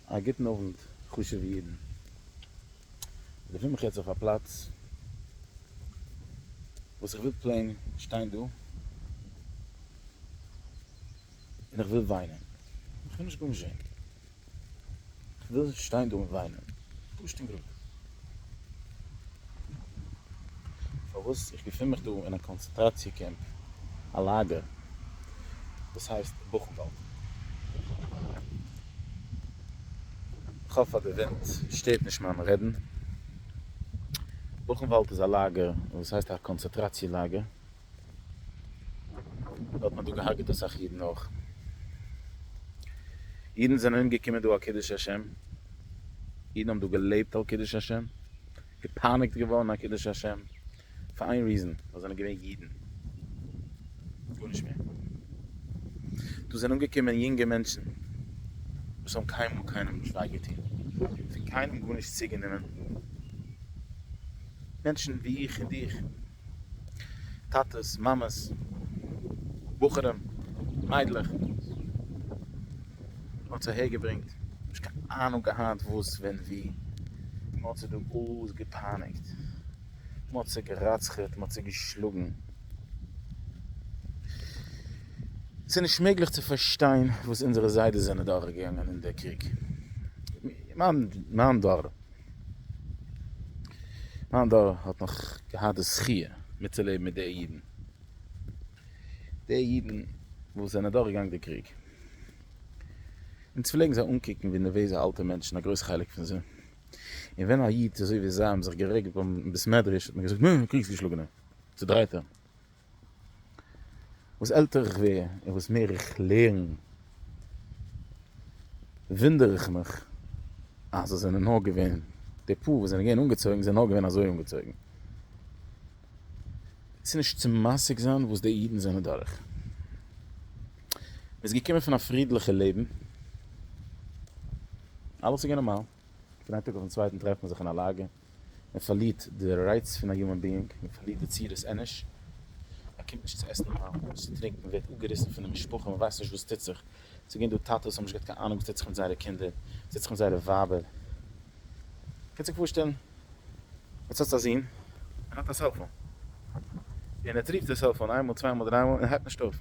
א גוטן אוונט חשוב'ע אידן. איך געפין מיך יעצט אויף א פלאץ וואס איך וויל פלעין שטיין דא און איך וויל וויינען. איך וויל נישט גארנישט זען. איך וויל שטיין דא און וויינען. פשוט און גראד. פארוואס איך געפין מיך דא אין א קאנצעטראציע קעמפ, א לאגער, וואס הייסט בוכנוואלד. איך האף אז די ווינט שטערט נישט מיין רעדן. בוכנוואלד איז א לאגער, וואס הייסט א קאנצעטראציע לאגער. האט מען דא געהארגעט אסאך אידן אויך. אידן זענען אומגעקומען דא על קידוש השם, אידן האבן דא געלעבט על קידוש השם, געפייניגט געווארן על קידוש השם, פאר איין ריזען, ווייל זיי זענען געווען אידן. גארנישט מער. דא זענען אומגעקומען יונגע מענטשן וואס האבן קיינמאל קיינעם נישט וויי געטון, פון קיינעם גארנישט צוגענומען, מענטשן ווי איך און דיך, טאטעס, מאמעס, בחורים, מיידלעך, האט עס אהער געברענגט, נישט קיין אהנונג געהאט וואס ווען ווי, מען האט זיי דא אלעס געפייניגט, מען האט זיי גע'רצח'עט, מען האט זיי געשלאגן, עס איז נישט מעגליך צו פארשטיין וואס אונזערע זיידעס זענען דורכגעגאנגען אין די קריג, מיין דור. מיין דור האט נאך געהאט די זכי' מיטצולעבן מיט די אידן, די אידן וואס זענען דורכגעגאנגען די קריג, אונז פלעגן זיי אנקוקן ווי נערוועזע אלטע מענטשן א גרויס חלק פון זיי, און ווען א איד אזוי ווי זיי האבן זיך גערעגט ביים בית מדרש האט מען געזאגט, נא, קריגס געשלאגענער, צודרייטער. וואס עלטער איך ווער און וואס מער איך לערן, וואונדער איך מיך אז עס זענען נאר געווען די פאר וואס זענען געווען אנגעצויגן זענען נאר געווען אזוי אנגעצויגן. עס איז נישט צו משיג זיין וואס די אידן זענען דורך. מען איז געקומען פון א פרידליכע לעבן, אלעס איז געווען נארמאל. פון איין טאג אויפן צווייטן טרעפט מען זיך אין א לאגע, מען פארלירט די רייץ פון א יומען ביאינג, מען פארלירט די צורת אנוש, מען קומט נישט צו עסן נארמאל, נישט צו טרינקען, מען ווערט אפגעריסן פון די משפחה, מען ווייסט נישט וואס טוט זיך, ס'איז געווען דא טאטעס וואס האבן נישט געהאט קיין אהנונג וואס טוט זיך מיט זייערע קינדער, וואס טוט זיך מיט זייערע ווייבער, קענסט זיך פארשטעלן? יעצט האסטו א זון, ער האט א סעלפאון, און ער טריפט די סעלפאון איינמאל, צוויי מאל, דריי מאל, און ער הייבט נישט אויף.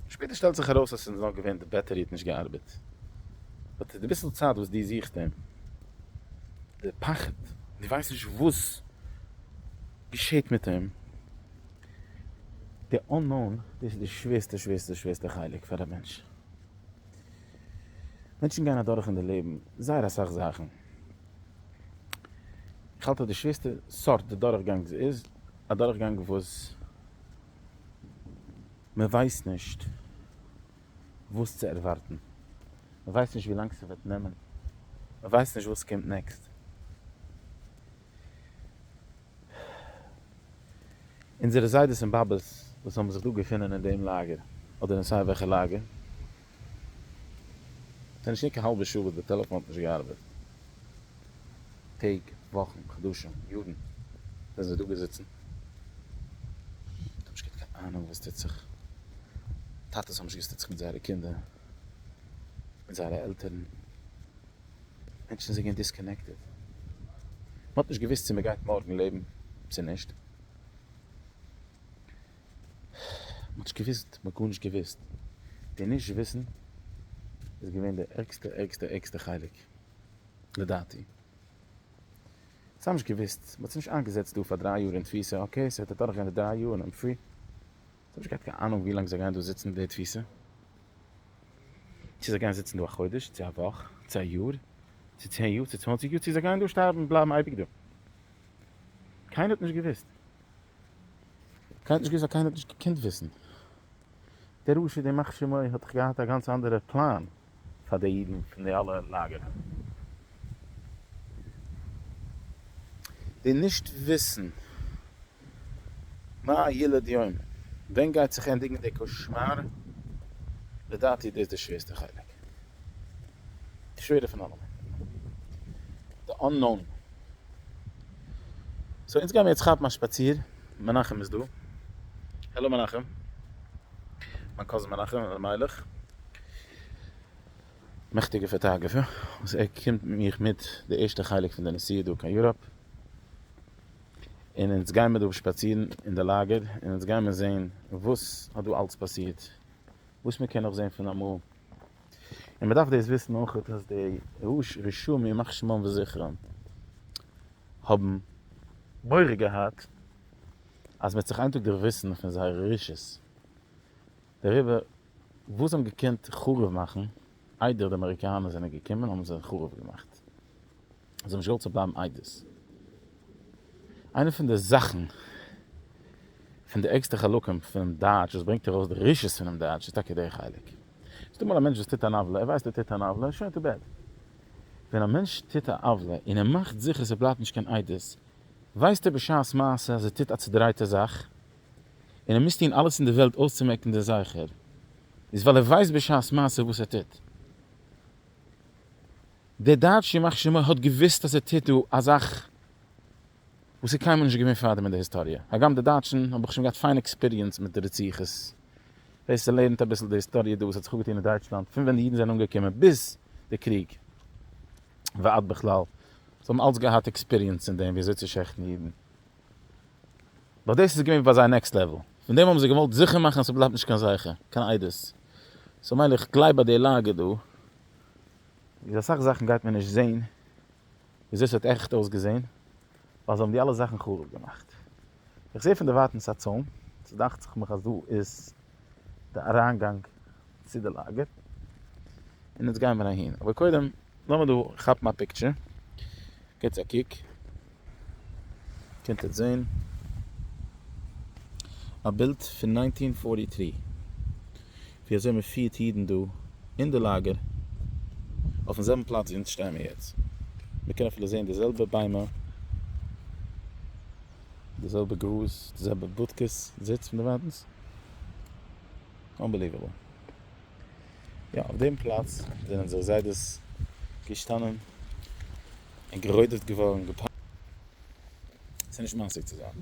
שפעטער שטעלט זיך ארויס אז ס'איז נאר געווען די בעטערי האט נישט געארבעט. באט די ביסל צייט וואס דו זוכסט אים, די פחד, דו ווייסט נישט וואס געשעהט מיט אים, די unknown, דאס איז די שווערסטע שווערסטע שווערסטע חלק פאר א מענטש. מענטשן גייען אדורך אין די לעבן זייער אסאך זאכן. כ'האלט אז די שווערסטע סארט אדורכגאנג איז אדורכגאנג וואס. מען ווייסט נישט וואס צו ערווארטן, מען ווייסט נישט ווי לאנג ס'וועט נעמען, מען ווייסט נישט וואס קומט נעקסט. אונזערע זיידעס און באבעס וואס האבן זיך דא געפונען אין דעם לאגער, אדער אין סיי וועלכע לאגער, האט ער נישט געהאט קיין האלבע שעה וואס די טעלעפאן האט נישט געארבעט, טעג, וואכן, חדשים, יארן זענען זיי דא געזיצן, זיי האבן נישט געהאט קיין אהנונג וואס טוט זיך, טאטעס האבן נישט געוואוסט וואס טוט זיך מיט זייערע קינדער, מיט זייערע עלטערן, מענטשן זענען געווען דיסקאנעקטעד, מען האט נישט געוואוסט צו מען גייט מארגן לעבן צו נישט. מ'האט נישט געוואוסט, מ'האט גארנישט געוואוסט. די נישט וויסן איז געווען די ערגסטע ערגסטע ערגסטע חלק, לדעתי. זיי האבן נישט געוואוסט, מ'האט זיי נישט איינגעזעצט דא פאר דריי יאר אין תפיסה, אקעי, ס'וועט אדורך גיין די דריי יאר און איים פרי. זיי האבן נישט געהאט קיין אהנונג ווי לאנג זיי גייען דא זיצן די תפיסה. צו זיי גייען זיצן דא א חודש, צו א וואך, צו א יאר, צו צען יאר, צו צוואנציג יאר, צו זיי גייען דא שטארבן, בלייבן אייביג דא. קיינער האט נישט געוואוסט. כעת נישט געוויסט אז קיינער האט נישט געקענט וויסן. דער רשע דער מכשי ם האט דאך געהאט א גאנץ אנדערער פלאן פאר די אידן פון די אלע לאגערן. די נישט וויסן מה ילד יום, ווען גייט זיך ענדיגן די קאשמאר, לדעתי דאס די שווערסטע חלק. די שווערע פון אלעמען. די אננאון. סאו אונז גיימיר יעצט כאפן א שפאציר, מנחם איז דא. העלא מנחם. מיין קאזין מנחם אלימלך. מעכטיגע פאטאגרעפער. וואס ער קומט מיך מיט די ערשטע חלק פון די נסיעה דא קיין יוראפ. און אונז גיימיר דא שפאצירן אין די לאגער, און אונז גיימיר זעהן וואס האט דא אלץ פאסירט. וואס מ'קען נאך זעהן פון אמאל. און מען דארף דאס וויסן אויך אז די רשעים ימח שמם וזכרם האבן מורא געהאט אז מען וועט זיך איין טאג דערוויסן פון זייערע רשעות דעריבער וואס זיי האבן געקענט חרוב מאכן איידער די אמעריקאנער זענען געקומען האבן זיי חרוב געמאכט. זיי האבן נישט געוואלט ס'זאל בלייבן איידעס. איינע פון די זאכן, פון די ערגסטע חלקים פונעם דייטש וואס ברענגט ארויס די רשעות פונעם דייטש איז טאקע דער חלק. ס'איז דא אמאל א מענטש וואס טוט אן עוולה, ער ווייסט ער טוט אן עוולה, שוין טו בעד. ווען א מענטש טוט א עוולה און ער מאכט זיכער ס'בלייבט נישט קיין עדות, ווייסט ער בשעת מעשה אז ער טוט א צודרייטע זאך, און ער מוז טון אלעס אין די וועלט אויסצומעקן דער זכר, איז ווייל ער ווייסט בשעת מעשה וואס ער טוט. דער דייטשער ימח שמו האט געוואוסט אז ער טוט דא א זאך וואס איז קיינמאל נישט געווען פארדעם אין די היסטאריע, הגם די דייטשן האבן שוין געהאט פיין עקספיריענס מיט די רציחות, דאס לערנט אביסל די היסטאריע דא וואס האט זיך אפגעטון אין דייטשלאנד פון ווען די אידן זענען אנגעקומען ביז די קריג ועד בכלל, זיי האבן אלץ געהאט עקספיריענס אין דעם ווי אזוי צו שעכטן אידן. באט דאס איז געווען ביי זיי נעקסט לעוועל, פון דעם האבן זיי געוואלט זיכער מאכן אז ס'בלייבט נישט קיין זכר, קיין עדות. סאו מילא איך גלייב ביי די לאגע דא, איז אסאך זאכן גייט מען נישט זעהן וויאזוי ס'האט עכט אויסגעזעהן, ווייל זיי האבן די אלע זאכן חרוב געמאכט. איך זעה פון דערווייטענס א צוים, ס'דאכט זיך מיך אז דא איז די אריינגאנג צו די לאגער, און יעצט גייען מיר אהין, אבער קודם לאמיר דא כאפן א פיקטשער, געטס א קוק, קענט עטס זעהן א בילד פון נײַנצן פֿארטי טרי ווי אזוי מען פירט אידן דא אין די לאגער, אויפן זעלבן פלאץ ווי אונז שטייען מיר יעצט, מען קען אפילו זעהן די זעלבע ביימער, די זעלבע גראז, די זעלבע בודקעס זיץ פון די וואנט, אנבעליוועבל. יא, אויף דעם פלאץ זענען זיי זיידעס געשטאנען און גערודפט געווארן. ס'איז נישט משיג צו זיין.